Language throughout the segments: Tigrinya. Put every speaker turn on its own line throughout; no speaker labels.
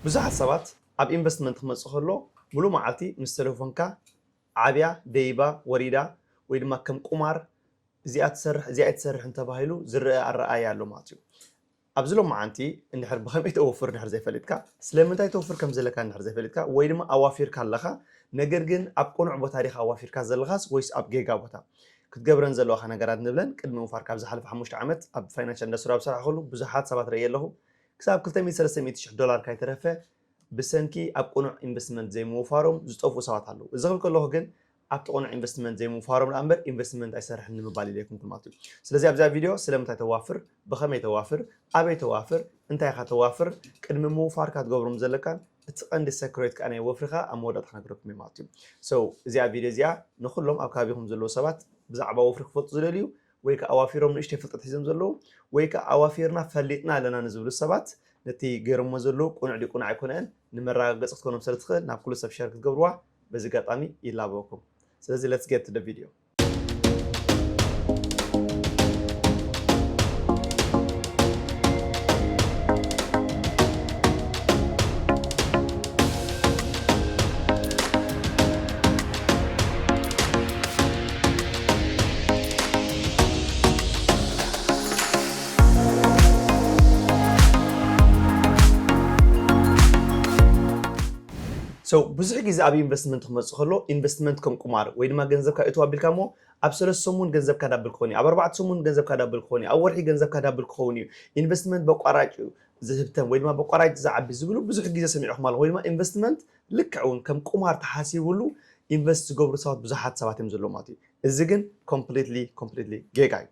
ብዙሓት ሰባት ኣብ ኢንቨስትመንት ክመጽእ ከሎ ምሉእ መዓልቲ ምስ ተለፎንካ ዓብያ ደይባ ወሪዳ ወይ ድማ ከም ቁማር እዚኣ ትሰርሕ እዚኣ ኣይትሰርሕን ተባሂሉ ዝረኣ ኣረኣእያ ኣሎ ማለት እዩ። ኣብዚ ሎማዓንቲ እንድሕር ብከመይ ተወፍር እንድሕር ዘይፈሊጥካ ስለምንታይ ተውፍር ከም ዘለካ እንድሕር ዘይፈሊጥካ ወይ ድማ ኣዋፊርካ ኣለኻ ነገር ግን ኣብ ቁኑዕ ቦታ ዲኻ ኣዋፊርካ ዘለኻስ ወይስ ኣብ ጌጋ ቦታ ክትገብረን ዘለዋካ ነገራት ንብለን ቅድሚ ምውፋርካ ኣብ ዝሓለፈ ሓሙሽተ ዓመት ኣብ ፋይናንሻል ኢንዳስትሪ ኣብ ዝሰርሓክሉ ብዙሓት ሰባት ረእየ ኣለኹ ክሳብ ክልተ ሚእቲ ሰለስተ ሚእቲ ሽሕ ዶላር ካይተረፈ ብሰንኪ ኣብ ቅኑዕ ኢንቨስትመንት ዘይምውፋሮም ዝጠፍኡ ሰባት ኣለዉ። እዚ ክብል ከለኹ ግን ኣብቲ ቅኑዕ ኢንቨስትመንት ዘይምውፋሮም ደኣ እምበር ኢንቨስትመንት ኣይሰርሕን ንምባል ኢለ ኣይኮንኩን ማለት እዩ። ስለዚ ኣብዚኣ ቪድዮ ስለምንታይ ተዋፍር፣ ብኸመይ ተዋፍር፣ ኣበይ ተዋፍር፣ እንታይ ኢኻ ተዋፍር፣ ቅድሚ ምውፋርካ ክትገብሮም ዘለካን እቲ ቀንዲ ሰክሬት ከኣ ናይ ወፍርኻ ኣብ መወዳእታ ክነግረኩም እየ ማለት እዩ። So እዚኣ ቪድዮ እዚኣ ንኹሎም ኣብ ከባቢኹም ዘለዉ ሰባት ብዛዕባ ወፍሪ ክፈልጡ ዝደልዩ ወይ ከኣ ኣዋፊሮም ንእሽተይ ፍልጠት ሒዞም ዘለዉ ወይ ከኣ ኣዋፊርና ፈሊጥና ኣለና ንዝብሉ ሰባት ነቲ ገይሮሞ ዘለዉ ቅኑዕ ድዩ ቅኑዕ ኣይኮነን ንመረጋገጺ ክትኮኖም ስለ ትኽእል ናብ ኩሉ ሰብ ሸር ክትገብርዋ በዚ ኣጋጣሚ ይላበወኩም ስለዚ let's get to the video ብዙሕ ግዜ ኣብ ኢንቨስትመንት ክመጽእ ከሎ ኢንቨስትመንት ከም ቁማር ወይ ድማ ገንዘብካ እቱ ኣቢልካ እሞ ኣብ ሰለስተ ሰሙን ገንዘብካ ዳብል ክኸውን እዩ፣ ኣብ ኣርባዕተ ሰሙን ገንዘብካ ዳብል ክኸውን እዩ፣ ኣብ ወርሒ ገንዘብካ ዳብል ክኸውን እዩ፣ ኢንቨስትመንት በቋራጭ እዩ ዝህብተም ወይ ድማ በቋራጭ ዝዓቢ ዝብሉ ብዙሕ ግዜ ሰሚዕኹም ኣለኹም ወይ ድማ ኢንቨስትመንት ልክዕ ውን ከም ቁማር ተሓሲብሉ ኢንቨስት ዝገብሩ ሰባት ብዙሓት ሰባት እዮም ዘለዉ ማለት እዩ እዚ ግን ኮምፕሊትሊ ኮምፕሊትሊ ጌጋ እዩ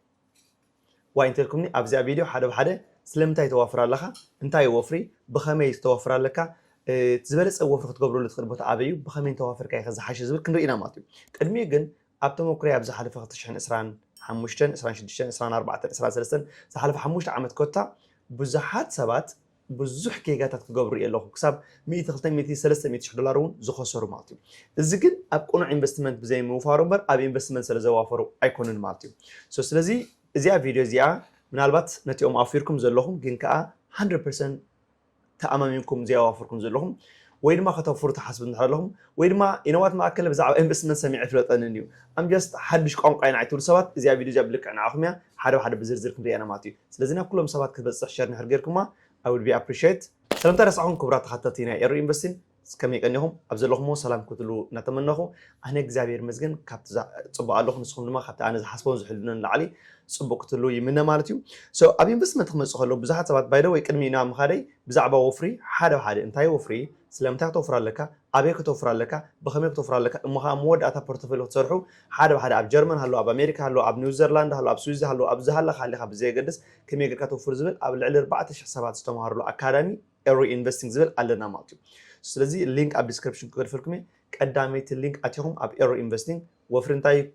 ዋይ እንተልኩምኒ ኣብዚኣ ቪድዮ ሓደ ብሓደ ስለምንታይ ተዋፍር ኣለኻ እንታይ እዩ ወፍሪ ብኸመይ ዝተወፍር ኣለካ እቲ ዝበለፀ ወፍሪ ክትገብረሉ ትኽእል ቦታ ኣበይ እዩ ብኸመይ እንተዋፈርካ ኢኸ ዝሓሸ ዝብል ክንርኢ ኢና ማለት እዩ ቅድሚኡ ግን ኣብ ተመኩረይ ኣብ ዝሓለፈ 2020 ሓሙሽተን ዕስራን ሽዱሽተን ዕስራን ኣርባዕተን ዕስራን ሰለስተን ዝሓለፈ ሓሙሽተ ዓመት ኮታ ብዙሓት ሰባት ብዙሕ ጌጋታት ክገብሩ ሪኤ ኣለኹ። ክሳብ ሚእቲ ክልተ ሚእቲ ሰለስተ ሚእቲ ሽሕ ዶላር እውን ዝኸሰሩ ማለት እዩ። እዚ ግን ኣብ ቅኑዕ ኢንቨስትመንት ብዘይምውፋሩ እምበር ኣብ ኢንቨስትመንት ስለዘዋፈሩ ኣይኮኑን ማለት እዩ። ሶ ስለዚ እዚኣ ቪድዮ እዚኣ ምናልባት ነቲኦም ኣውፊርኩም ዘለኹም ግን ከኣ ሃንድረድ ፐርሰንት ተኣማሚንኩም ዘይኣዋፍርኩም ዘለኹም ወይ ድማ ከተውፍሩ ትሓስቡ እንድሕር ኣለኹም ወይ ድማ ኢነዋት መኣከለ ብዛዕባ ኢንቨስትመንት ሰሚዐ ኣይፍለጠንን እዩ ኣም ጀስት ሓድሽ ቋንቋ ኢና ኣይትብሉ ሰባት እዚኣ ቪድዮ እዚኣ ብልክዕ ንዓኹም እያ ሓደ ብሓደ ብዝርዝር ክንሪኣ ኢና ማለት እዩ። ስለዚ ናብ ኩሎም ሰባት ክትበጽሕ ሸር እንድሕር ጌርኩማ I would be appreciate። ሰለምታ ረሳዕኩም ክቡራት ተከታተልቲ ናይ ኤሩ ኢንቨስቲን ከመይ ቀኒኹም ኣብ ዘለኹሞ ሰላም ክትህልዉ እናተመነኹ ኣነ እግዚኣብሔር ይመስገን ካብቲ ጽቡቅ ኣለኹ ንስኹም ድማ ካብቲ ኣነ ዝሓስቦን ዝሕልኖን ንላዕሊ ጽቡቅ ክትህልዉ ይምነ ማለት እዩ so ኣብ ኢንቨስትመንት ክመጽእ ከሎ ብዙሓት ሰባት by the way ቅድሚ ናብ ምኻደይ ብዛዕባ ወፍሪ ሓደ ብሓደ እንታይ እዩ ወፍሪ ስለምንታይ ክተውፍር ኣለካ ኣበይ ክተውፍር ኣለካ ብኸመይ ክተውፍር ኣለካ እሞ ከኣ መወዳእታ ፖርቶፎልዮ ክትሰርሑ ሓደ ብሓደ ኣብ ጀርመን ሃሉ ኣብ ኣሜሪካ ሃሉ ኣብ ኒውዘርላንድ ሃሉ ኣብ ስዊዝ ሃሉ ኣብ ዝሃለኻ ሃሊኻ ብዘየገድስ ከመይ ጌርካ ተውፍር ዝብል ኣብ ልዕሊ ኣርባዕተ ሽሕ ሰባት ዝተምሃርሉ ኣካዳሚ Eri Investing ዝብል ኣለና ማለት እዩ ስለዚ ሊንክ ኣብ ዲስክሪፕሽን ክገድፈልኩም እየ ቀዳመይቲ ሊንክ ኣቲኹም ኣብ Eri Investing ወፍሪ እንታይ እዩ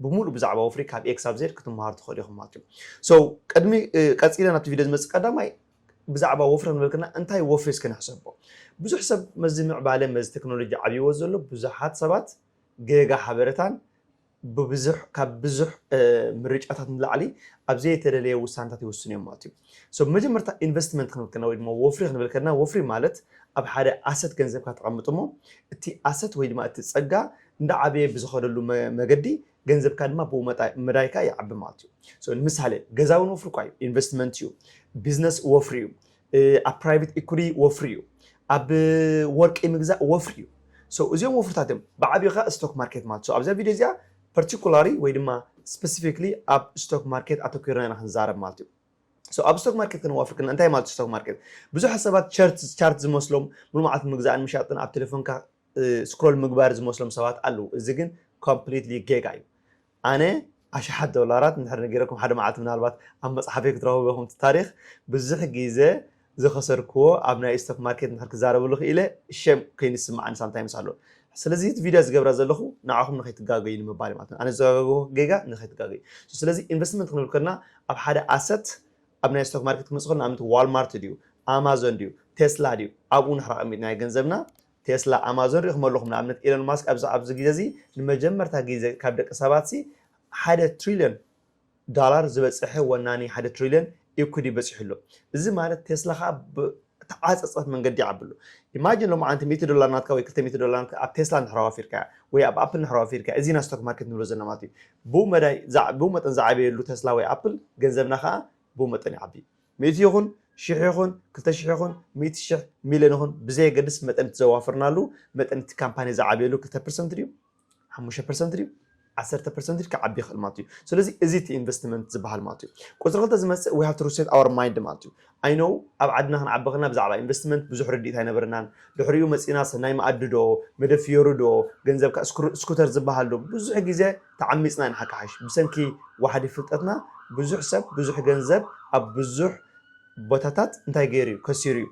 ብሙሉእ ብዛዕባ ወፍሪ ካብ ኤክስ ኣብ ዜድ ክትምሃሩ ትኽእሉ ኢኹም ማለት እዩ ሶ ቅድሚ ቀፂለ ናብቲ ቪድዮ ዝመፅእ ቀዳማይ ብዛዕባ ወፍሪ ክንበልክና እንታይ ወፍሪ እስከ ንሕሰቦ ብዙሕ ሰብ መዚ ምዕባለ መዚ ቴክኖሎጂ ዓብይዎ ዘሎ ብዙሓት ሰባት ጌጋ ሓበረታን ብብዙሕ ካብ ብዙሕ ምርጫታት ንላዕሊ ኣብ ዘየተደለየ ውሳነታት ይውስኑ እዮም ማለት እዩ። So ብመጀመርታ ኢንቨስትመንት ክንብል ከለና ወይ ድማ ወፍሪ ክንብል ከለና ወፍሪ ማለት ኣብ ሓደ ኣሰት ገንዘብካ ተቐምጥ እሞ እቲ ኣሰት ወይ ድማ እቲ ጸጋ እንዳዓበየ ብዝኸደሉ መገዲ ገንዘብካ ድማ ብኡ መዳይ ከዓ ይዓቢ ማለት እዩ። So ንምሳሌ ገዛ እውን ወፍሪ እኳ እዩ ኢንቨስትመንት እዩ። ቢዝነስ ወፍሪ እዩ። ኣብ ፕራይቬት ኢኩቲ ወፍሪ እዩ፣ ኣብ ወርቂ ምግዛእ ወፍሪ እዩ። ሶ እዚኦም ወፍርታት እዮም። ብዓቢኡ ከኣ ስቶክ ማርኬት ማለት። ሶ ኣብዛ ቪድዮ እዚኣ ፐርቲኩላሪ ወይ ድማ ስፐሲፊክሊ ኣብ ስቶክ ማርኬት ኣተኲርና ኢና ክንዛረብ ማለት እዩ። ሶ ኣብ ስቶክ ማርኬት ክነዋፍር ከለና እንታይ ማለት እዩ ስቶክ ማርኬት? ብዙሓት ሰባት ቸርት ቻርት ዝመስሎም ሙሉእ መዓልቲ ምግዛእን ምሻጥን ኣብ ቴሌፎንካ ስክሮል ምግባር ዝመስሎም ሰባት ኣለዉ። እዚ ግን ኮምፕሊትሊ ጌጋ እዩ። ኣነ ኣሽሓት ዶላራት እንድሕር ነጊረኩም ሓደ መዓልቲ ምናልባት ኣብ መጽሓፈይ ክትረኽቡ ኢኹም እቲ ታሪኽ ብዙሕ ግዘ ዝኸሰርክዎ ኣብ ናይ ስቶክ ማርኬት እንድሕር ክዛረበሉ ክኢለ ሸም ኮይኑ ዝስምዓኒ ሳምታይምስ ኣሎ ስለዚ እቲ ቪድዮ ዝገብራ ዘለኹ ንዓኹም ንኸይትጋገዩ ንምባል እዩ ማለት ኣነ ዝተጋገዎ ጌጋ ንኸይትጋገዩ ስለዚ ኢንቨስትመንት ክንብል ከለና ኣብ ሓደ ኣሰት ኣብ ናይ ስቶክ ማርኬት ክመጽእ ከሎ ንኣብነት ዋልማርት ድዩ ኣማዞን ድዩ ቴስላ ድዩ ኣብኡ ንሕር ኣቐሚጥናዮ ገንዘብና ቴስላ፣ ኣማዞን ሪኢኹሞ ኣለኹም ንኣብነት ኤሎን ማስክ ኣብዚ ኣብዚ ግዜ እዚ ንመጀመርታ ግዜ ካብ ደቂ ሰባት ሲ ሓደ ትሪልዮን ዳላር ዝበጸሐ ወናኒ ሓደ ትሪልዮን ኢኩዲ በጺሑ ኣሎ እዚ ማለት ቴስላ ከኣ ብ ተዓጸጸፍ መንገዲ ይዓቢ ኣሎ ኢማጂን ሎምዓንቲ ሚእቲ ዶላር ናትካ ወይ ክልተ ሚእቲ ዶላር ናትካ ኣብ ቴስላ እንድሕር ኣዋፊርካያ ወይ ኣብ ኣፕል እንድሕር ኣዋፊርካያ እዚ ኢና ስቶክ ማርኬት ንብሎ ዘለና ማለት እዩ ብኡ መዳይ ብኡ መጠን ዝዓበየሉ ቴስላ ወይ ኣፕል ገንዘብና ከኣ ብኡ መጠን ይዓቢ ሚእቲ ይኹን ሽሕ ይኹን ክልተ ሽሕ ይኹን ሚእቲ ሽሕ ሚልዮን ይኹን ብዘየገድስ መጠን እቲ ዘዋፈርናሉ መጠን እቲ ካምፓኒ ዝዓብየሉ ክልተ ፐርሰንት ድዩ ሓሙሽተ ፐርሰንት ድዩ ዓሰርተ ፐርሰንት ድዩ ክዓቢ ይኽእል ማለት እዩ ስለዚ እዚ እቲ ኢንቨስትመንት ዝበሃል ማለት እዩ ቁፅሪ ክልተ ዝመፅእ ዊ ሃቭ ቱ ሪሴት ኣወር ማይንድ ማለት እዩ ኣይነው ኣብ ዓድና ክንዓቢ ከለና ብዛዕባ ኢንቨስትመንት ብዙሕ ርድኢት ኣይነበረናን ድሕሪኡ መፂና ሰናይ መኣዲ ዶ መደብ ፍዮሪ ዶ ገንዘብ ካብ ስኩተር ዝበሃል ዶ ብዙሕ ግዜ ተዓሚጽና ኢና ሓቃሓይሽ ብሰንኪ ዋሕዲ ፍልጠትና ብዙሕ ሰብ ብዙሕ ገንዘብ ኣብ ብዙሕ ቦታታት እንታይ ገይሩ እዩ ከሲሩ እዩ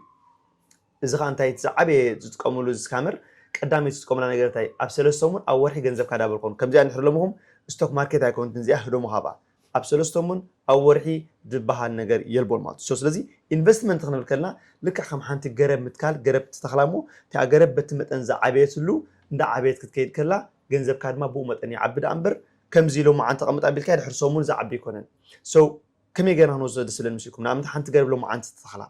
እዚ ከኣ እንታይ እቲ ዝዓበየ ዝጥቀምሉ እዚ ስካመር ቀዳመይቲ ዝጥቀሙላ ነገር እንታይ ኣብ ሰለስተ ሰሙን ኣብ ወርሒ ገንዘብካ ዳብል ኮኑ ከምዚኣ እንድሕሪ ሎምኹም ስቶክ ማርኬት ኣይኮነትን እዚኣ ህደሙ ሃባ ኣብ ሰለስቶሙን ኣብ ወርሒ ድበሃል ነገር የልቦን ማለት እዩ። ሶ ስለዚ ኢንቨስትመንት ክንብል ከለና ልክዕ ከም ሓንቲ ገረብ ምትካል ገረብ ትተኽላ እሞ እቲኣ ገረብ በቲ መጠን ዝዓበየትሉ እንዳዓበየት ክትከይድ ከላ ገንዘብካ ድማ ብኡ መጠን ይዓቢ ደኣ እምበር ከምዚ ሎማዓንቲ ኣቐምጥ ኣቢልካያ ድሕሪ ሰሙን ዝዓቢ ኣይኮነን። ሶ ከመይ ገርና ክንወስዶ ደስ ዝብለኒ መስልኩም ንኣብነት ሓንቲ ገረብ ሎማዓንቲ ትተኽላ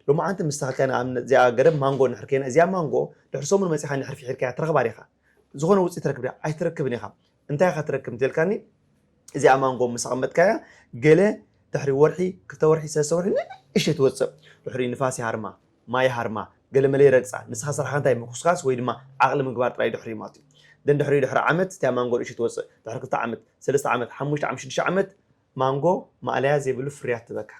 ሎማዓንቲ ምስ ተኸልካያ ንኣብነት እዚኣ ገረብ ማንጎ እንድሕር ከይና እዚኣ ማንጎ ድሕሪ ሰሙን መጺኻ እንድሕር ፊሒርካያ ትረኽባ ዲኻ? ዝኾነ ውጽኢት ትረክብ ዲኻ? ኣይትረክብን ኢኻ። እንታይ ኢኻ ትረክብ እንተልካኒ እዚኣ ማንጎ ምስ ኣቐመጥካያ ገለ ድሕሪ ወርሒ ክልተ ወርሒ ሰለስተ ወርሒ ንእሽተይ ትወጽእ ድሕሪኡ ንፋስ ይሃርማ ማይ ይሃርማ ገለመለ ይረግጻ ንስኻ ስራሕካ እንታይ ምኹስካስ ወይ ድማ ዓቕሊ ምግባር ጥራይ ድሕሪኡ ማለት እዩ ደን ድሕሪኡ ድሕሪ ዓመት እቲኣ ማንጎ ንእሽተይ ትወጽእ ድሕሪ ክልተ ዓመት ሰለስተ ዓመት ሓሙሽተ ዓመት ሽዱሽተ ዓመት ማንጎ ማእለያ ዘይብሉ ፍርያት ትህበካ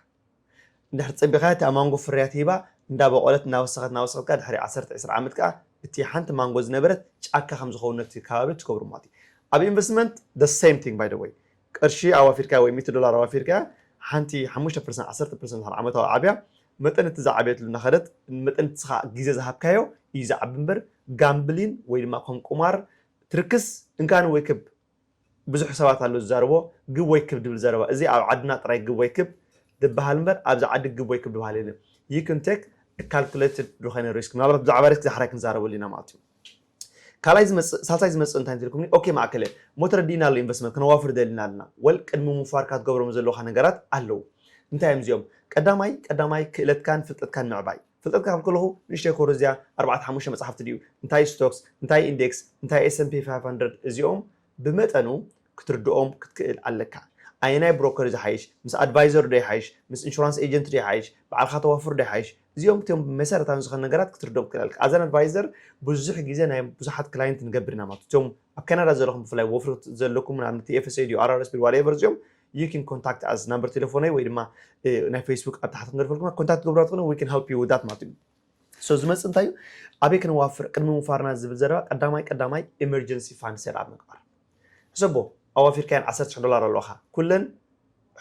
እንድሕር ጸቢኻ እታ ማንጎ ፍርያት ሂባ እንዳበቖለት እናወሰኸት እናወሰኸት ከኣ ድሕሪ ዓሰርተ ዕስራ ዓመት ከኣ እቲ ሓንቲ ማንጎ ዝነበረት ጫካ ከም ዝኸውን ነቲ ከባቢ ትገብሮ ማለት እዩ ኣብ ኢንቨስትመንት the same thing by the way ቅርሺ ኣዋፊርካያ ወይ ሚእቲ ዶላር ኣዋፊርካያ ሓንቲ ሓሙሽተ ፐርሰንት ዓሰርተ ፐርሰንት ድሕሪ ዓመታዊ ዓብያ መጠን እቲ ዝዓበየትሉ እናኸደት መጠን እቲ ኻዓ ግዜ ዝሃብካዮ እዩ ዝዓቢ እምበር ጋምብሊን ወይ ድማ ከም ቁማር ትርክስ እንካን ወይ ክብ ብዙሕ ሰባት ኣሎ ዝዛረቦ ግብ ወይ ክብ ድብል ዘረባ እዚ ኣብ ዓድና ጥራይ ግብ ወይ ክብ ድብሃል እምበር ኣብዚ ዓዲ ግብ ወይ ክብ ድብሃል የለን you can take a calculated ዝኾነ risk ምናልባት ብዛዕባ risk ዳሕራይ ክንዛረበሉ ኢና ማለት እዩ ካልኣይ ዝመጽእ ሳልሳይ ዝመጽእ እንታይ እንትልኩምኒ ኦኬ ማእከለ ሞት ረዲእና ኣሎ ኢንቨስትመንት ክነዋፍር ደሊና ኣለና ወል ቅድሚ ምውፋርካ ትገብሮም ዘለካ ነገራት ኣለዉ እንታይ እዮም እዚኦም ቀዳማይ ቀዳማይ ክእለትካን ፍልጠትካን ምዕባይ ፍልጠትካ ካብ ከለኹ ንእሽተይ ኮረዝያ ኣርባዕተ ሓሙሽተ መጽሓፍቲ ድዩ እንታይ ስቶክስ እንታይ ኢንደክስ እንታይ ኤስ ኤንድ ፒ ፋይፍ ሃንድረድ እዚኦም ብመጠኑ ክትርድኦም ክትክእል ኣለካ ኣየናይ ብሮከር እዩ ዝሓይሽ ምስ ኣድቫይዘር ዶ ይሓይሽ ምስ ኢንሹራንስ ኤጀንት ዶ ይሓይሽ ባዕልካ ተዋፍር ዶ ይሓይሽ እዚኦም እቶም መሰረታዊ ዝኾኑ ነገራት ክትርድኦም ክትክእል ኣለካ ኣዘን ኣድቫይዘር ብዙሕ ግዜ ናይ ብዙሓት ክላይንት ንገብር ኢና ማለት እቶም ኣብ ካናዳ ዘለኹም ብፍላይ ወፍሪ ዘለኩም ንኣብነት TFSA ድዩ RRSP ዋትኤቨር እዚኦም you can contact us ናምበር ቴሌፎነይ ወይ ድማ ናይ ፌስቡክ ኣብ ታሕቲ ክንደርፈልኩማ ኮንታክት ትገብሩና ትኾኑ we can help you with that ማለት እዩ ሶ ዝመፅእ እንታይ እዩ ኣበይ ክንዋፍር ቅድሚ ምውፋርና ዝብል ዘረባ ቀዳማይ ቀዳማይ ኤመርጀንሲ ፋንድ ሴት ኣብ ምግባር ሕሰቦ ኣዋፊርካየን 10 ዶላር ኣለዋኻ ኩለን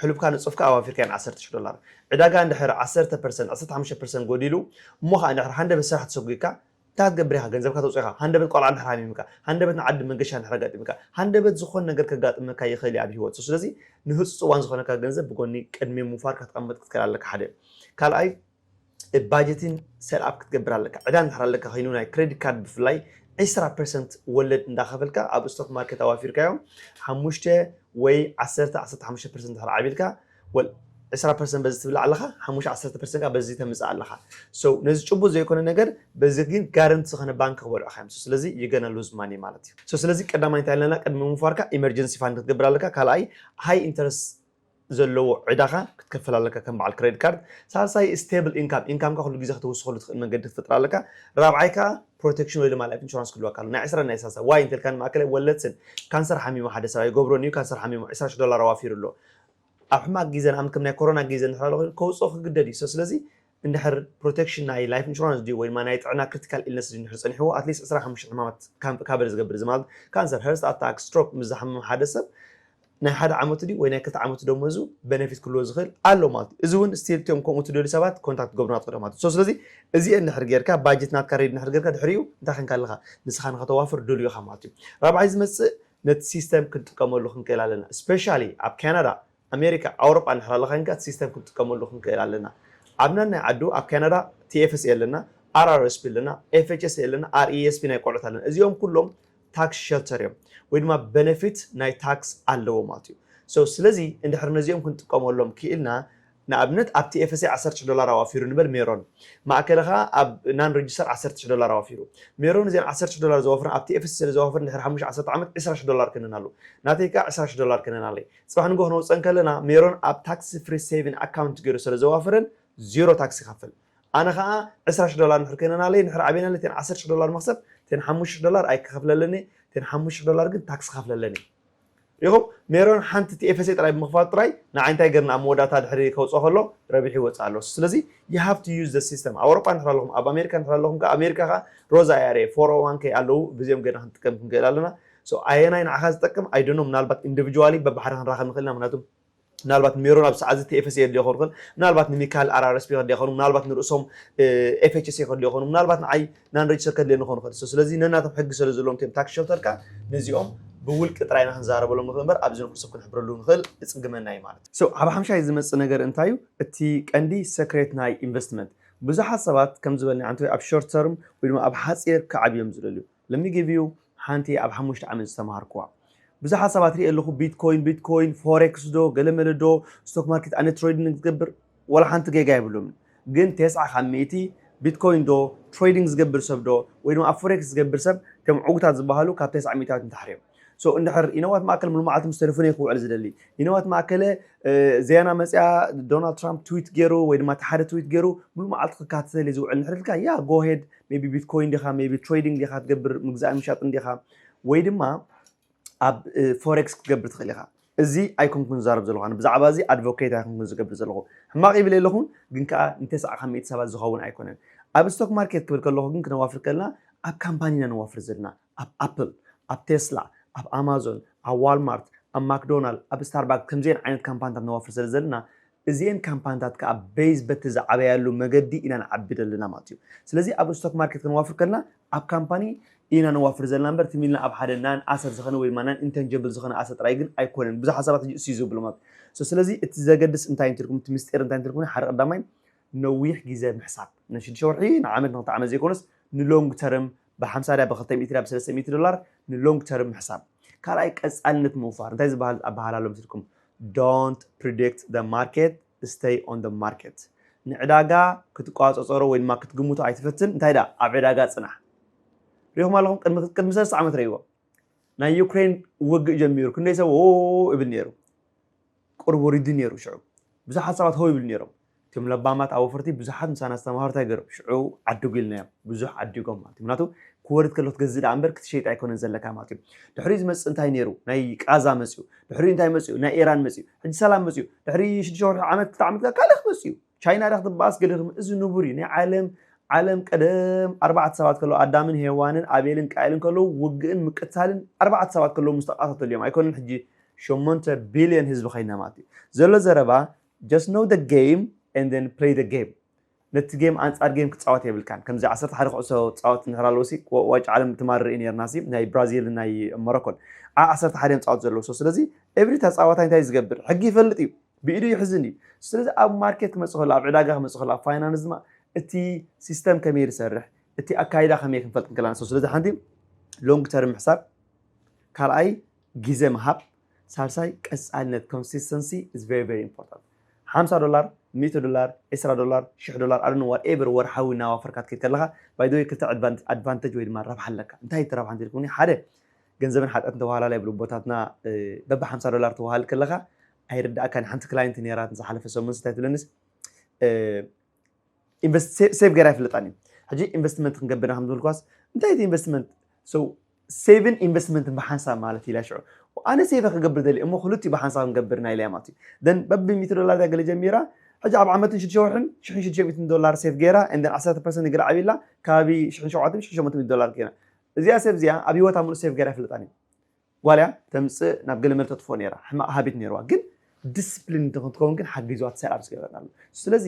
ሕሉብካ ንፁፍካ ኣዋፊርካየን 10 ዶላር ዕዳጋ እንድሕር 10 ፐርሰንት 15 ፐርሰንት ጎዲሉ እሞ ከዓ እንድሕር ሃንደበት ስራሕ ተሰጒግካ እንታይ ክትገብር ኢኻ? ገንዘብካ ተውጽኦ ኢኻ። ሃንደበት ቈልዓ እንድሕር ሓሚምካ፣ ሃንደበት ንዓዲ መንገሻ እንድሕር ኣጋጢምካ፣ ሃንደበት ዝኾነ ነገር ከጋጥመካ ይኽእል እዩ ኣብ ህይወት። ስለዚ ንህጹጽ እዋን ዝኾነካ ገንዘብ ብጎኒ ቅድሚ ምውፋር ከተቐምጥ ክትክእል ኣለካ ሓደ። ካልኣይ ባጀቲን set up ክትገብር ኣለካ። ዕዳ እንድሕር ኣለካ ኮይኑ ናይ ክረዲት ካርድ ብፍላይ ዕስራ ፐርሰንት ወለድ እንዳኸፈልካ ኣብ ስቶክ ማርኬት ኣዋፊርካዮ ሓሙሽተ ወይ ዓሰርተ ዓሰርተ ሓሙሽተ ፐርሰንት እንድሕር ዓቢልካ ወል ዕስራ ፐርሰንት በዚ ትብላዕ ኣለኻ ሓሙሽተ ዓሰርተ ፐርሰንት ከኣ በዚ ተምጽእ ኣለኻ so ነዚ ጭቡጥ ዘይኮነ ነገር በዚ ግን guarantee ዝኾነ ባንኪ ክበልዑኻ እዮም so ስለዚ you gonna lose money ማለት እዩ so ስለዚ ቀዳማይ እንታይ ኣለና ቅድሚ ምውፋርካ emergency fund ክትገብር ኣለካ ካልኣይ high interest ዘለዎ ዕዳኻ ክትከፍል ኣለካ ከም በዓል ክሬዲት ካርድ ሳልሳይ ስቴብል ኢንካም ኢንካምካ ኩሉ ግዜ ክትውስኸሉ ትኽእል መንገዲ ክትፈጥር ኣለካ ራብዓይ ከዓ ፕሮቴክሽን ወይ ድማ ላይፍ ኢንሹራንስ ክህልወካ ኣሎ ናይ ዕስራን ናይ ሳልሳ ዋይ እንተልካ ንማእከላይ ወለድስን ካንሰር ሓሚሙ ሓደ ሰብኣይ ገብሮን እዩ ካንሰር ሓሚሙ ዕስራ ሽሕ ዶላር ኣዋፊሩ ኣሎ ኣብ ሕማቅ ጊዘ ንኣም ከም ናይ ኮሮና ጊዘ እንድሕር ኣሎ ኮይኑ ከውጽኦ ክግደድ እዩ ሶ ስለዚ እንድሕር ፕሮተክሽን ናይ ላይፍ እንሹራንስ ድዩ ወይ ድማ ናይ ጥዕና ክርቲካል ኢልነስ ድዩ እንድሕር ጸኒሕዎ ኣትሊስት ዕስራ ሓሙሽተ ሕማማት ካምፕ ካበር ዝገብር እዚ ማለት ካንሰር ሀርስት ኣታክ ስትሮክ ምስ ዝሓመመ ሓደ ሰብ ናይ ሓደ ዓመቱ ድዩ ወይ ናይ ክልተ ዓመቱ ደሞዙ በነፊት ክህልዎ ዝኽእል ኣሎ ማለት እዩ እዚ እውን ስቲል እትዮም ከምኡ ትደልዩ ሰባት ኮንታክት ትገብሩና ትኽእሉ ማለት እዩ ሶ ስለዚ እዚኤ እንድሕር ጌርካ ባጀት ናትካ ሬዲ እንድሕር ጌርካ ድሕሪኡ እንታይ ኬንካ ኣለኻ ንስኻ ንኸተዋፍር ድሉው ኢኻ ማለት እዩ ራብዓይ ዝመጽእ ነቲ ሲስተም ክንጥቀመሉ ክንክእል ኣለና እስፔሻሊ ኣብ ካናዳ ኣሜሪካ ኣውሮጳ እንድሕር ኣለኻ ኬንካ እቲ ሲስተም ክንጥቀመሉ ክንክእል ኣለና ኣብ ነናይ ዓዱ ኣብ ካናዳ TFSA ኣለና RRSP ኣለና FHSA ኣለና RESP ናይ ቆልዑት ኣለና እዚኦም ኩሎም ታክስ ሸልተር እዮም ወይ ድማ በነፊት ናይ ታክስ ኣለዎ ማለት እዩ ሶ ስለዚ እንድሕር ነዚኦም ክንጥቀመሎም ክኢልና ንኣብነት ኣብቲ ኤፈሰይ ዓሰርተ ሽሕ ዶላር ኣዋፊሩ ንበል ሜሮን ማእከለ ከኣ ኣብ ናን ረጅስተር ዓሰርተ ሽሕ ዶላር ኣዋፊሩ ሜሮን እዘን ዓሰርተ ሽሕ ዶላር ዘዋፍረን ኣብቲ ኤፈሰይ ስለ ዘዋፈረን ድሕሪ ሓሙሽተ ዓሰርተ ዓመት ዕስራ ሽሕ ዶላር ከነናሉ ናተይ ከኣ ዕስራ ሽሕ ዶላር ከነናለይ ጽባሕ ንግሆ ክነውጽእ እንከለና ሜሮን ኣብ ታክስ ፍሪ ሰይቪን ኣካውንት ጌሩ ሰለ ዘዋፈረን ዚሮ ታክስ ይኸፍል ኣነ ከኣ ዕስራ ሽሕ ዶላር ንድሕሪ ከነናለይ ንድሕሪ ኣቤናለይ እተን ዓሰርተ ሽሕ ዶላር መኽሰብ እተን ሓሙሽተ ሽሕ ዶላር ኣይክኸፍለለን'የ እተን ሓሙሽተ ሽሕ ዶላር ግን ታክስ ክኸፍለለን እየ ሪኢኹም ሜሮን ሓንቲ ቲኤፈሰይ ጥራይ ብምኽፋቱ ጥራይ ንዓይ እንታይ ገርኒ ኣብ መወዳእታ ድሕሪ ከውጽኦ ከሎ ረቢሑ ይወጽእ ኣሎ ስለዚ you have to use the system ኣብ ኣውሮጳ እንድሕር ኣለኹም ኣብ ኣሜሪካ እንድሕር ኣለኹም ከኣ ኣሜሪካ ከኣ ሮዛ IRA 401k ኣለዉ ብዚኦም ገርና ክንጥቀም ክንክእል ኣለና so ኣየናይ ንዓኻ ዝጠቅም i don't know ምናልባት individually በብሓደ ክንራኸብ ንኽእል ኢና ምኽንያቱ ምናልባት ሜሮን ኣብዚ ሰዓት እዚ ቲኤፍኤስ የድልዮ ክኸውን ይኽእል፣ ምናልባት ንሚካኤል ኣራረስፒ ከድልያ ይኸውን፣ ምናልባት ንርእሶም ኤፍኤችሲ ከድልዮ ይኸውን፣ ምናልባት ንዓይ ናን ረጅስተር ከድልየኒ ክኸውን ይኽእል። ሶ ስለዚ ነናቶም ሕጊ ስለ ዘለዎም እቶም ታክሲ ሸልተር ከኣ ነዚኦም ብውልቂ ጥራይ ኢና ክንዛረበሎም ንኽእል እምበር ኣብዚ ንኹሉ ሰብ ክንሕብረሉ ንኽእል እጽግመና እዩ ማለት እዩ። ሶ ኣብ ሓምሻይ ዝመጽእ ነገር እንታይ እዩ እቲ ቀንዲ ሰክሬት ናይ ኢንቨስትመንት ብዙሓት ሰባት ከም ዝበልናዮ ዓንተወይ ኣብ ሾርት ተርም ወይ ድማ ኣብ ሓጺር ክዓብዩ እዮም ዝደልዩ። Let me give you ሓንቲ ኣብ ሓሙሽተ ዓመት ዝተማሃርክዋ ብዙሓት ሰባት ሪኤ ኣለኹ ቢትኮይን ቢትኮይን ፎሬክስ ዶ ገለመለ ዶ ስቶክ ማርኬት ኣነ ትሬዲንግ ዝገብር ዋላ ሓንቲ ጌጋ የብሎምን ግን ቴስዓ ካብ ሚእቲ ቢትኮይን ዶ ትሬዲንግ ዝገብር ሰብ ዶ ወይ ድማ ኣብ ፎሬክስ ዝገብር ሰብ እቶም ዕውታት ዝበሃሉ ካብ ቴስዓ ሚእታዊት ንታሕቲ እዮም ሶ እንድሕር ኢነዋት ማእከል ምልማዓት ምስ ተደፍነ'ዩ ክውዕል ዝደሊ። ኢነዋት ማእከለ ዘያና መጺኣ ዶናልድ ትራምፕ ትዊት ገይሩ ወይ ድማ እቲ ሓደ ትዊት ገይሩ ሙሉእ መዓልቲ ክከታተል'የ ዝውዕል እንድሕር ኢልካ ያ ጎ ሄድ ሜቢ ቢትኮይን ዲኻ ሜቢ ትሬዲንግ ዲኻ ትገብር ምግዛእን ምሻጥን ዲኻ ወይ ድማ ኣብ ፎሬክስ ክትገብር ትኽእል ኢኻ። እዚ ኣይኮንኩን ዝዛረብ ዘለኹ ኣነ ብዛዕባ እዚ ኣድቮኬት ኣይኮንኩን ዝገብር ዘለኹ ሕማቕ ይብል የለኹን ግን ከኣ ንተስዓኻ ሚእቲ ሰባት ዝኸውን ኣይኮነን ኣብ ስቶክ ማርኬት ክብል ከለኹ ግን ክነዋፍር ከለና ኣብ ካምፓኒ ኢና ነዋፍር ዘለና ኣብ ኣፕል፣ ኣብ ቴስላ፣ ኣብ ኣማዞን፣ ኣብ ዋልማርት፣ ኣብ ማክዶናል፣ ኣብ ስታርባክስ ከምዚኤን ዓይነት ካምፓንታት ነዋፍር ስለ ዘለና እዚኤን ካምፓንታት ከኣ በይዝ በቲ ዝዓበያሉ መገዲ ኢና ንዓቢ ዘለና ማለት እዩ። ስለዚ ኣብ ስቶክ ማርኬት ከነዋፍር ከለና ኣብ ካምፓኒ ኢና ነዋፍር ዘለና እምበር ትም ኢልና ኣብ ሓደ ናን ኣሰት ዝኸነ ወይ ድማ ናን ኢንተንጀብል ዝኸነ ኣሰት ጥራይ ግን ኣይኮነን ብዙሓት ሰባት ሕጂ እሱ እዩ ዝብሉ ማለት እዩ። ሶ ስለዚ እቲ ዘገድስ እንታይ እንተልኩም እቲ ምስጢር እንታይ እንተልኩም ሓደ ቀዳማይ ነዊሕ ግዜ ምሕሳብ ንሽዱሽተ ወርሒ ንዓመት ንክልተ ዓመት ዘይኮነስ ንሎንግ ተርም ብሓምሳ ድያ ብክልተ ሚእቲ ድያ ብሰለስተ ሚእቲ ዶላር ንሎንግ ተርም ምሕሳብ። ካልኣይ ቀጻልነት ምውፋር እንታይ ዝበሃል ኣበሃህላ ኣሎ መሲልኩም Don't predict the market stay on the market ንዕዳጋ ክትቆጻጸሮ ወይ ድማ ክትግምቶ ኣይትፈትን እንታይ ድኣ ኣብ ዕዳጋ ጽናሕ ሪኹም ኣለኹም ቅድሚ ቅድሚ ሰለስተ ዓመት ረይዎ ናይ ዩክሬን ውግእ ጀሚሩ ክንደይ ሰብ ኦ ይብል ነይሩ ቅርቡ ሪዱ ነይሩ ሽዑ ብዙሓት ሰባት ሆ ይብሉ ነይሮም እቶም ለባማት ኣወፈርቲ ብዙሓት ምሳና ዝተማሃሩ እንታይ ገይሮም ሽዑ ዓድጉ ኢልናዮም ብዙሕ ዓዲጎም ማለት እዩ ምክንያቱ ክወርድ ከሎ ክትገዝእ ደኣ እምበር ክትሸይጥ ኣይኮነን ዘለካ ማለት እዩ ድሕሪኡ ዝመጽእ እንታይ ነይሩ ናይ ቃዛ መጽኡ ድሕሪኡ እንታይ መጽኡ ናይ ኢራን መጽኡ ሕጂ ሰላም መጽኡ ድሕሪ ሽዱሽተ ወርሒ ዓመት ክልተ ዓመት ካልእ ክመጽእ እዩ ቻይና ዳ ክትበኣስ ገለ ክም እዚ ንቡር እዩ ናይ ዓለም ዓለም ቀደም ኣርባዕተ ሰባት ከለዉ ኣዳምን ሄዋንን ኣቤልን ቃኤልን ከለዉ ውግእን ምቅታልን ኣርባዕተ ሰባት ከለዉ ምስ ተቃታተሉ እዮም ኣይኮነን ሕጂ ሸሞንተ ቢልዮን ህዝቢ ከይና ማለት እዩ ዘሎ ዘረባ Just know the game and then play the game ነቲ ጌም ኣንጻር ጌም ክጻወት የብልካን ከምዚ ዓሰርተ ሓደ ኩዕሶ ጻወት እንድሕር ኣለዎሲ ዋንጫ ዓለም ትማል ርኢ ነርናሲ ናይ ብራዚል ናይ ሞሮኮን ዓ ዓሰርተ ሓደ እዮም ጻወት ዘለዎ ስለዚ ኤብሪ ተጻዋታይ እንታይ ዝገብር ሕጊ ይፈልጥ እዩ ብኢዱ ይሕዝን እዩ ስለዚ ኣብ ማርኬት ክመጽእ ከሎ ኣብ ዕዳጋ ክመጽእ ከሎ ኣብ ፋይናንስ ድማ እቲ ሲስተም ከመይ ዝሰርሕ እቲ ኣካይዳ ከመይ ክንፈልጥ ንክእላን ስለዚ ሓንቲ ሎንግ ተርም ምሕሳብ ካልኣይ ግዜ ምሃብ ሳልሳይ ቀጻልነት Consistency is very very important ሓምሳ ዶላር ሚእቲ ዶላር ዕስራ ዶላር ሽሕ ዶላር I don't know whatever ወርሓዊ እናዋፈርካ ትከይድ ከለኻ by the way ክልተ ዕድቫን advantage ወይ ድማ ረብሓ ኣለካ እንታይ እቲ ረብሓ እንተልኩምኒ ሓደ ገንዘብን ሓጢኣትን ተዋህላላይ ይብሉ ኣቦታትና በቢ ሓምሳ ዶላር ተዋህልል ከለኻ ኣይርድኣካን ሓንቲ ክላይንት ነይራትን ዝሓለፈ ሰሙንስ እንታይ ትብለንስ ሴቭ ገይረ ኣይፍለጣን እዩ ሕጂ ኢንቨስትመንት ክንገብር ከም ዝበልኳስ እንታይ እቲ ኢንቨስትመንት ሴቭን ኢንቨስትመንትን ብሓንሳብ ማለት ኢላ ሽዑ ኣነ ሴቭ ክገብር ደሊ እሞ ክልቲኡ ብሓንሳብ ክንገብር ናይ ኢለያ ማለት እዩ ደን በቢ ሚእቲ ዶላር ዳገለ ጀሚራ ሕጂ ኣብ ዓመትን ሽዱሽተ ወርሕን ሽሕን ሽዱሽተ ሚእትን ዶላር ሴቭ ገይራ እንደን ዓሰርተ ፐርሰንት ገለ ዓብላ ከባቢ ሽሕን ሸውዓተን ሽሕን ሸሞንተ ሚእቲ ዶላር ገይራ እዚኣ ሴቭ እዚኣ ኣብ ሂወታ ሙሉእ ሴቭ ገይራ ኣይፍለጣን እዩ ጓል እያ ተምጽእ ናብ ገለ መል ተጥፎ ነይራ ሕማቅ ሃቢት ነይርዋ ግን ዲስፕሊን ንክትከውን ግን ሓጊዝዋ እቲ ሰራብስ ገይረላ ኣሎ ስለዚ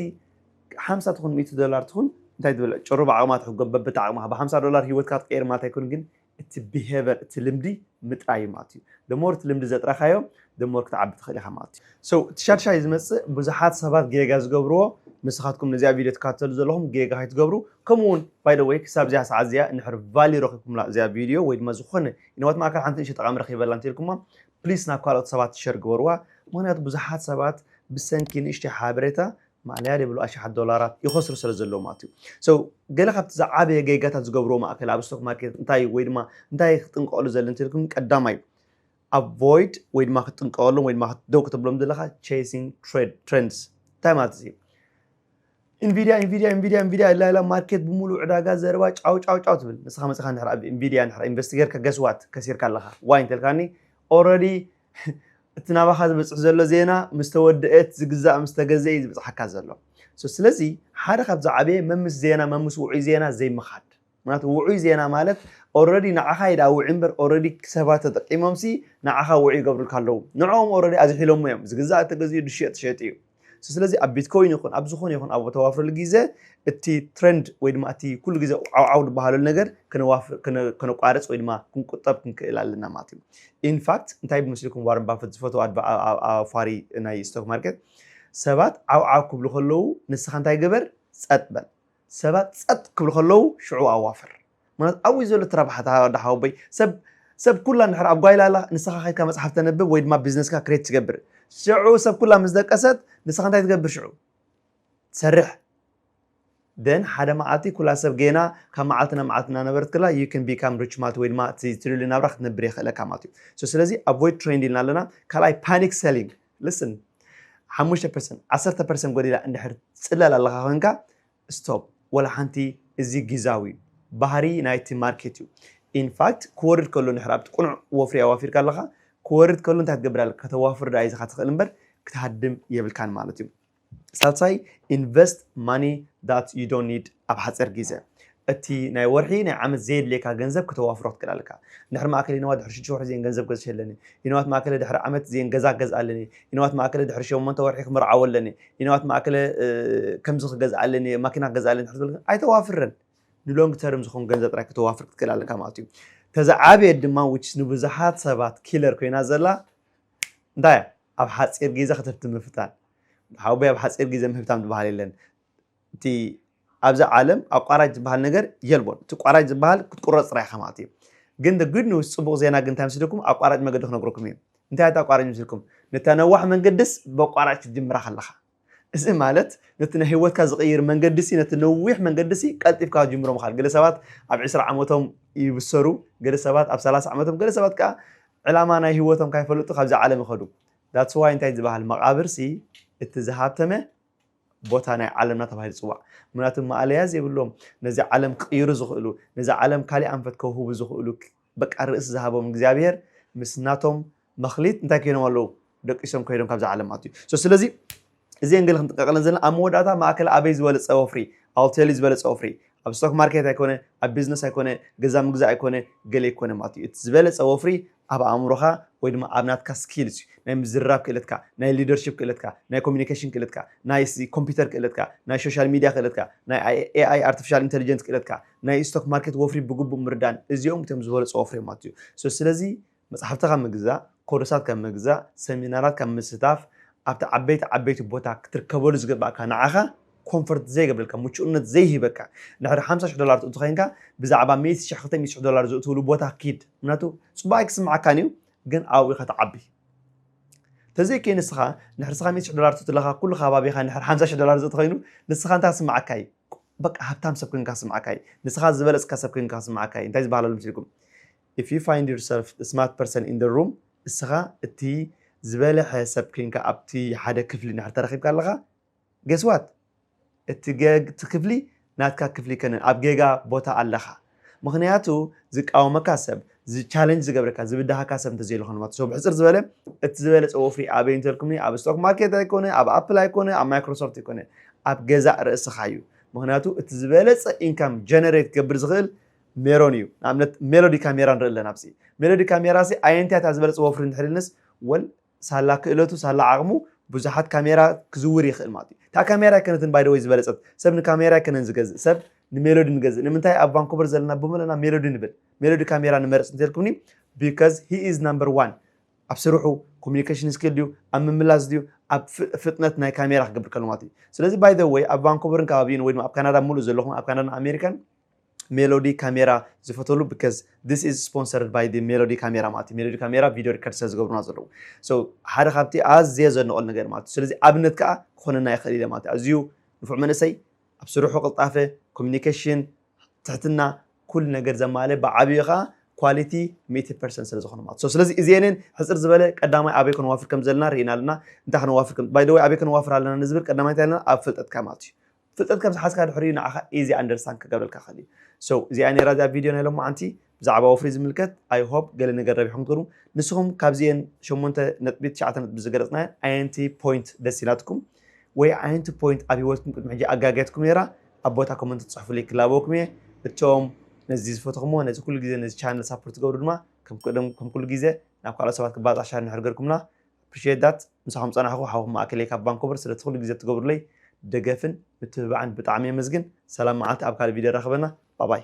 ሓምሳ ትኹን ሚእቲ ዶላር ትኹን እንታይ ትብል ጭሩ ብዓቅማ ትሕጎም በብቲ ዓቅማ ብሓምሳ ዶላር ሂወትካ ትቀይር ማለት ኣይኮን ግን እቲ ቢሄቨር እቲ ልምዲ ምጥራይ እዩ ማለት እዩ the more እቲ ልምዲ ዘጥረካዮ the more ክትዓቢ ትክእል ኢካ ማለት እዩ so እቲ ሻድሻይ ዝመጽእ ብዙሓት ሰባት ጌጋ ዝገብርዎ ንስኻትኩም ነዚኣ ቪድዮ ትካተሉ ዘለኹም ጌጋ ከይትገብሩ ከምኡ ውን by the way ክሳብ እዚኣ ሰዓት እዚኣ እንድሕር value ረኪብኩምላ እዚኣ ቪድዮ ወይ ድማ ዝኾነ ኢንዋት ማእከል ሓንቲ ንእሽተይ ጠቓሚ ረኺበላ እንተልኩማ ፕሊስ ናብ ካልኦት ሰባት ሸር ግበርዋ ምኽንያቱ ብዙሓት ሰባት ብሰንኪ ንእሽተይ ሓበሬታ ማእለያ ዘይብሉ ኣሽሓት ዶላራት ይኸስሩ ስለ ዘለዉ ማለት እዩ so ገለ ካብቲ ዝዓበየ ጌጋታት ዝገብርዎ ማእከል ኣብ ስቶክ ማርኬት እንታይ እዩ ወይ ድማ እንታይ ክጥንቀቐሉ ዘለ እንተልኩም ቀዳማይ avoid ወይ ድማ ክትጥንቀቐሎም ወይ ድማ ደው ክትብሎም ዘለካ chasing trends እንታይ ማለት እዚ ኢንቪድያ ኢንቪድያ ኢንቪድያ ኢንቪድያ ኢላ ኢላ ማርኬት ብምሉእ ዕዳጋ ዘረባ ጫው ጫው ጫው ትብል ንስኻ መጽኻ እንድሕር ኣብ ኢንቪድያ እንድሕር ኢንቨስት ጌርካ ገስዋት ከሲርካ ኣለኻ ዋይ እንተልካኒ ኦረዲ እቲ ናባኻ ዝበጽሕ ዘሎ ዜና ምስ ተወደኤት ዝግዛእ ምስ ተገዘ እዩ ዝበጽሓካ ዘሎ ስለዚ ሓደ ካብዚ ዓበየ መምስ ዜና መምስ ውዑይ ዜና ዘይምኻድ ምክንያቱ ውዑይ ዜና ማለት ኦረዲ ንዓካ እዩ ድኣ ውዑይ እምበር ኦረዲ ሰባት ተጠቂሞምሲ ንዓካ ውዑይ ይገብሩልካ ኣለዉ ንዕኦም ኦረዲ ኣዝሒሎሞ እዮም ዝግዛእ ተገዚኡ ዝሽየጥ ተሸይጡ እዩ So ስለዚ ኣብ ቢትኮይን ይኹን ኣብ ዝኾነ ይኹን ኣብ ተዋፍረሉ ግዜ እቲ ትሬንድ ወይ ድማ እቲ ኩሉ ግዜ ዓውዓው ዝበሃለሉ ነገር ከነቋርፅ ወይ ድማ ክንቁጠብ ክንክእል ኣለና ማለት እዩ ኢንፋክት እንታይ ብምስልኩም ዋረን ባፈት ዝፈትዎ ኣፋሪ ናይ ስቶክ ማርኬት ሰባት ዓውዓው ክብሉ ከለዉ ንስኻ እንታይ ገበር ጸጥ በል ሰባት ጸጥ ክብሉ ከለዉ ሽዑ ኣዋፍር ምክንያቱ ኣብኡ እዩ ዘሎ እቲ ረብሓ እታ ወዲ ሓወቦይ ሰብ ሰብ ኩላ እንድሕር ኣብ ጓይላ ኣላ ንስኻ ከድካ መጽሓፍ ተንብብ ወይ ድማ ቢዝነስካ ክሬት ትገብር ሽዑ ሰብ ኩላ ምስ ደቀሰት ንስኻ እንታይ ትገብር ሽዑ ትሰርሕ ደን ሓደ መዓልቲ ኩላ ሰብ ጌና ካብ መዓልቲ ናብ መዓልቲ እናነበረት ክላ ዩ ን ቢካም ሪች ማለት ወይ ድማ እቲ ትሪሊ ናብራ ክትነብር የኽእለካ ማለት እዩ ስለዚ ኣቮይድ ትሬንድ ኢልና ኣለና ካልኣይ ፓኒክ ሰሊንግ ልስን ሓሙሽተ ፐርሰንት ዓሰርተ ፐርሰንት ጎዲላ እንድሕር ትጽለል ኣለኻ ኮንካ ስቶፕ ወላ ሓንቲ እዚ ጊዛዊ እዩ ባህሪ ናይቲ ማርኬት እዩ ኢንፋክት ክወርድ ከሎ ንድሕር ኣብቲ ቅኑዕ ወፍሪ ኣዋፊርካ ኣለኻ ክወርድ ከሎ እንታይ ክትገብር ኣለካ ከተዋፍር ደኣ ኢኻ ትኽእል እምበር ክትሃድም የብልካን ማለት እዩ ሳልሳይ ኢንቨስት ማኒ ዳት ዩ ዶንት ኒድ ኣብ ሓጺር ጊዘ እቲ ናይ ወርሒ ናይ ዓመት ዘየድልየካ ገንዘብ ክተዋፍሮ ክትክእል ኣለካ ድሕሪ ማእከል ይንዋት ድሕሪ ሽዱሽተ ወርሒ ዜን ገንዘብ ገዝሸ ኣለኒ ይንዋት ማእከለ ድሕሪ ዓመት ዜን ገዛ ክገዝእ ኣለኒ ይንዋት ማእከለ ድሕሪ ሸሞንተ ወርሒ ክምርዓው ኣለኒ ይንዋት ማእከለ ከምዚ ክገዝእ ኣለኒ ማኪና ክገዝእ ኣለኒ ድሕሪ ዝበልካ ኣይተዋፍርን ንሎንግ ተርም ዝኸውን ገንዘብ ጥራይ ክተዋፍር ክትክእል ኣለካ ማለት እዩ ተዝዓበየት ድማ ንብዙሓት ሰባት ኪለር ኮይና ዘላ እንታይ እያ ኣብ ሓፂር ጊዘ ክትህብቲ ምፍታን ሓወቦይ ኣብ ሓፂር ጊዘ ምህብታም ዝበሃል የለን እቲ ኣብዚ ዓለም ኣቋራጭ ዝበሃል ነገር የልቦን እቲ ቋራጭ ዝበሃል ክትቁረፅ ጥራይ ኢኻ ማለት እዩ ግን the good news ፅቡቅ ዜና ግን እንታይ ምስልኩም ኣቋራጭ መገዲ ክነግረኩም እዩ እንታይ ኣቋራጭ ምስልኩም ነታ ነዋሕ መንገድስ በቋራጭ ክትጅምራ ከለኻ እዚ ማለት ነቲ ናይ ህይወትካ ዝቕይር መንገዲሲ ነቲ ነዊሕ መንገዲሲ ቀልጢፍካ ክትጅምሮ ምኻል ገለ ሰባት ኣብ ዕስራ ዓመቶም ይብሰሩ ገለ ሰባት ኣብ ሰላሳ ዓመቶም ገለ ሰባት ከኣ ዕላማ ናይ ህይወቶም ካይፈለጡ ካብዛ ዓለም ይኸዱ ዳትስ ዋይ እንታይ ዝበሃል መቓብርሲ እቲ ዝሃብተመ ቦታ ናይ ዓለምና ተባሂሉ ይፅዋዕ ምክንያቱ ማእለያ ዘይብሎም ነዚ ዓለም ክቕይሩ ዝኽእሉ ነዚ ዓለም ካሊእ ኣንፈት ከውህቡ ዝኽእሉ በቃ ርእሲ ዝሃቦም እግዚኣብሄር ምስ ናቶም መክሊት እንታይ ኮይኖም ኣለዉ ደቂሶም ኮይዶም ካብዛ ዓለም ኣትዩ so ስለዚ እዚኤን ገለ ክንጥንቀቀለን ዘለና ኣብ መወዳእታ ማእከል ኣበይ ዝበለጸ ወፍሪ I'll tell you ዝበለጸ ወፍሪ ኣብ ስቶክ ማርኬት ኣይኮነ ኣብ ቢዝነስ ኣይኮነ ገዛ ምግዛእ ኣይኮነ ገለ ኣይኮነ ማለት እዩ እቲ ዝበለጸ ወፍሪ ኣብ ኣእምሮኻ ወይ ድማ ኣብ ናትካ ስኪልስ እዩ ናይ ምዝርራብ ክእለትካ ናይ ሊደርሽፕ ክእለትካ ናይ ኮሚኒኬሽን ክእለትካ ናይ ኮምፒውተር ክእለትካ ናይ ሶሻል ሚድያ ክእለትካ ናይ ኤኣይ ኣርቲፊሻል ኢንቴሊጀንስ ክእለትካ ናይ ስቶክ ማርኬት ወፍሪ ብግቡእ ምርዳእን እዚኦም እቶም ዝበለጹ ወፍሪማት እዩ። So ስለዚ መጻሕፍቲ ካብ ምግዛእ፣ ኮርሳት ካብ ምግዛእ፣ ሰሚናራት ካብ ምስታፍ፣ ኣብቲ ዓበይቲ ዓበይቲ ቦታ ክትርከበሉ ዝግበኣካ ንዓኻ ኮንፈርት ዘይገብረልካ ምቹእነት ዘይህበካ ድሕሪ ሓምሳ ሽሕ ዶላር ትእቱ ኮይንካ ብዛዕባ ሚእቲ ሽሕ ክልተ ሚእቲ ሽሕ ዶላር ዝእትውሉ ቦታ ኪድ ምክንያቱ ጽቡቅ ኣይክስምዓካን እዩ ግን ኣብኡ ኢኻ ትዓቢ ተዘይከይ ንስኻ ንሕርስኻ ሚእቲ ሽሕ ዶላር ትእቱ ኣለኻ ኩሉ ከባቢኻ ንሕር ሓምሳ ሽሕ ዶላር ዝእቲ ኮይኑ ንስኻ እንታይ ክስምዓካ እዩ በቃ ሃብታም ሰብ ኮይንካ ክስምዓካ እዪ ንስኻ ዝበለጽካ ሰብ ኮይንካ ክስምዓካ እዪ እንታይ ዝበሃል ኣሎ መስልኩም if you find yourself the smart person in the room እስኻ እቲ ዝበለሐ ሰብ ኮይንካ ኣብቲ ሓደ ክፍሊ እንድሕር ተረኺብካ ኣለኻ guess what እቲ ክፍሊ ናትካ ክፍሊ ኣይከነን ኣብ ጌጋ ቦታ ኣለኻ። ምኽንያቱ ዝቃወመካ ሰብ፣ ዝ challenge ዝገብረካ፣ ዝብድሃካ ሰብ እንተዘየሎ ኸንማ ትሰ ብሕጽር ዝበለ እቲ ዝበለጸ ወፍሪ ኣበይ እንተልኩምኒ ኣብ ስቶክ ማርኬት ኣይኮነ ኣብ ኣፕል ኣይኮነ ኣብ ማይክሮሶፍት ኣይኮነ ኣብ ገዛእ ርእስኻ እዩ ምኽንያቱ እቲ ዝበለጸ ኢንካም ጀነሬት ክገብር ዝኽእል ሜሮን እዩ ንኣብነት ሜሎዲ ካሜራ ንርኢ ኣለና ኣብዚ ሜሎዲ ካሜራ ሲ ኣየንቲያ እታ ዝበለጸ ወፍሪ እንድሕር ኢልንስ ወል ሳላ ክእለቱ ሳላ ዓቕሙ ብዙሓት ካሜራ ክዝውር ይኽእል ማለት እዩ። እታ ካሜራ ኣይከነትን ባይ ዘ ወይ ዝበለጸት። ሰብ ንካሜራ ኣይከነን ዝገዝእ። ሰብ ንሜሎዲ ንገዝእ። ንምንታይ ኣብ ቫንኮቨር ዘለና ብምለና ሜሎዲ ንብል። ሜሎዲ ካሜራ ንመርጽ እንተልኩምኒ because he is number one ኣብ ስርሑ ኮሚኒኬሽን ስኪል ድዩ ኣብ ምምላስ ድዩ ኣብ ፍጥነት ናይ ካሜራ ክገብር ከሎ ማለት እዩ። ስለዚ ባይ ዘ ወይ ኣብ ቫንኮቨርን ከባቢኡን ወይ ድማ ኣብ ካናዳ ምሉእ ዘለኹም ኣብ ካናዳን ኣሜሪካን ሜሎዲ ካሜራ ዝፈተሉ ብከዝ this is sponsored by the ሜሎዲ ካሜራ ማለት እዩ ሜሎዲ ካሜራ ቪድዮ ሪከርድ ስለ ዝገብሩና ዘለዉ so ሓደ ካብቲ ኣዝየ ዘድንቐሉ ነገር ማለት እዩ ስለዚ ኣብነት ከዓ ክኾነና ይኽእል ኢለ ማለት እዩ ኣዝዩ ንፉዕ መንእሰይ ኣብ ስርሑ ቅልጣፈ ኮሚኒኬሽን ትሕትና ኩሉ ነገር ዘማልእ ብዓብዩ ከዓ ኳሊቲ ሚእቲ ፐርሰንት ስለ ዝኾነ ማለት እዩ ስለዚ እዚኤንን ሕፅር ዝበለ ቀዳማይ ኣበይ ከነዋፍር ከም ዘለና ርኢና ኣለና እንታይ ከነዋፍር ከም ባይ ዘ ወይ ኣበይ ከነዋፍር ኣለና ንዝብል ቀዳማይ እንታይ ኣለና ኣብ ፍልጠትካ ማለት እዩ ፍልጠት ከም ዝሓዝካ ድሕር እዩ ንዓኻ ኢዚ ኣንደርስታንድ ክገብረልካ ክኽእል እዩ so እዚኣ እያ ነይራ እዛ ቪድዮ ናይ ሎማዓንቲ ብዛዕባ ወፍሪ ዝምልከት ኣይ ሆፕ ገለ ነገር ረቢሕኩም ትኾኑ ንስኹም ካብዚኤን ሸሞንተ ነጥቢ ትሽዓተ ነጥቢ ዝገለፅናየን ኣየንቲ ፖይንት ደስ ኢላትኩም ወይ ኣየንቲ ፖይንት ኣብ ሂወትኩም ቅድሚ ሕጂ ኣጋግያትኩም ነይራ ኣብ ቦታ ኮመንት ትፅሕፉለይ ክላበወኩም እየ እቶም ነዚ ዝፈተኹሞ ነዚ ኩሉ ግዜ ነዚ ቻነል ሳፖርት ትገብሩ ድማ ከም ኩሉ ግዜ ናብ ካልኦት ሰባት ክባፃሕ ሻር እንድሕር ገርኩምና Appreciate that ምሳኹም ጸናሕኩ ሓውኩም ማእከለይ ካብ ቫንኮቨር ስለቲ ኩሉ ግዜ ትገብሩለይ ደገፍን ምትብባዕን ብጣዕሚ የመስግን ሰላም መዓልቲ ኣብ ካልእ ቪድዮ የራኽበና ባባይ።